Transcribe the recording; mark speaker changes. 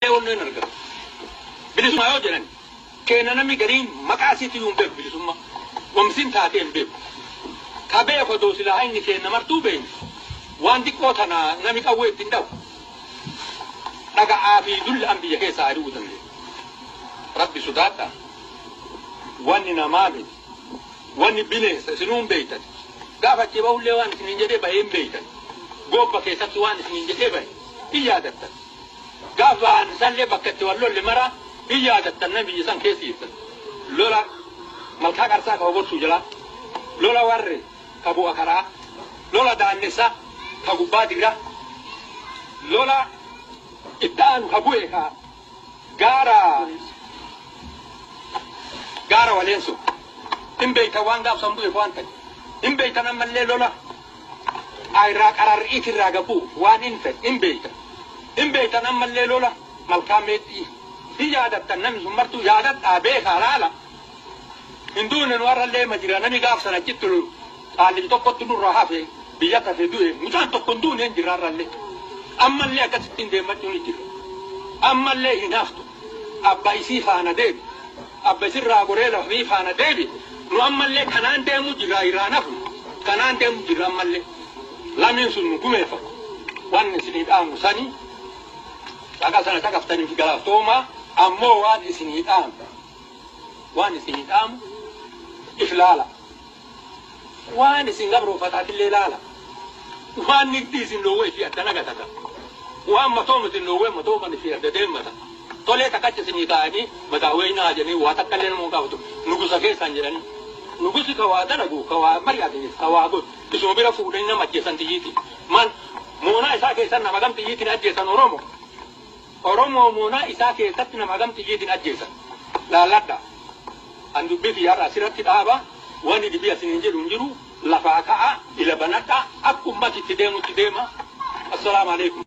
Speaker 1: Walloo hin argatu. Bilisummaa yoo jedhan keenya namni gariin maqaa isiitti iyyuu hin beeku bilisummaa. Wamsiin taatee hin beeku. Ka beeku odoo silaa inni keenya martuu beeyne waan xiqqoo tana nami qawwee ittiin dhahu dhaga'aa fi dulla'an biyya keessaa ari'uu dandeenya. Rabbi sodaadhaa. Wanni namaa miti. Wanni bineensa isinuu hin beeytan. Gaafa achii bahullee waan isiniin jedhee bahee hin beeytan. Gobba keessatti waan isiniin jedhee bahe hin yaadattan. Gaaf bahan isallee bakka itti wal lolle mara hin yaadattan mee biyya san keessa jirtan. Lola Malkaa Qarsaa ka Hoborsuu jalaa, lola Warree ka Bu'a Karaa, lola Daannessaa ka Gubbaa Digraa, lola itti aanu ka bu'e ka gaara gaara Waleensoo. Hin beektan waan gaaf san bu'eef waan ta'e. Hin beektan ammallee lola. a irraa qararr iit irraa ga bu'u waan in ta'e in beeytan. In beeytan ammallee lola malkaa meexxi'ii hin yaadattan namni sun martuu yaadadhaa beekaa laala hin duune nu arrallee ma jira nami gaaf san achitti lolu qaallichi tokkottu nurraa hafe biyya tafe du'e mucaan tokko hin duune hin jira arrallee ammallee akkasittiin deemmachuun hin jira ammallee hin haftu. abba isii faana deebi abba isirraa goree lafmii faana deebi nu ammallee kanaan deemuu jirraa irraa nafnu kanaan deemuu jirra ammallee lamiin sun nu gumeeffatu waan isinii dhaamnu sanii dhaqa sana caqaftaniif galaaftoomaa ammoo waan isinii dhaamnu waan isinii dhaamu if laala Waan isin gabroofatatillee laala. Waan nigdii isin dhoowwe ifii adda nagatata. Waan matoom isin dhoowwe matooman ifii adda deemmata. Tolee takkacha isinii taa'anii mataa weeynaa jedhanii waa takkallee nama hin gaafatu. Nugusa keessaan jedhanii. Nugusi ka waa dalagu, ka waa mari'atiniif, ka waa godhu isuma bira fuudhanii nama ajjeesan xiyyiitiin. Maal moonaa isaa keessan nama gam xiyyiitiin ajjeesan Oromoo? Oromoo moonaa isaa keessatti nama hagam xiyyiitiin ajjeesan laalladhaa. An dubbii kiyya har'a asirratti dhaaba, wani dhibii asiniin jedhu hin jiru, lafaa ka'aa, ila banadhaa, akka ummati itti deemutti deemaa. Assalaamu Aleykum.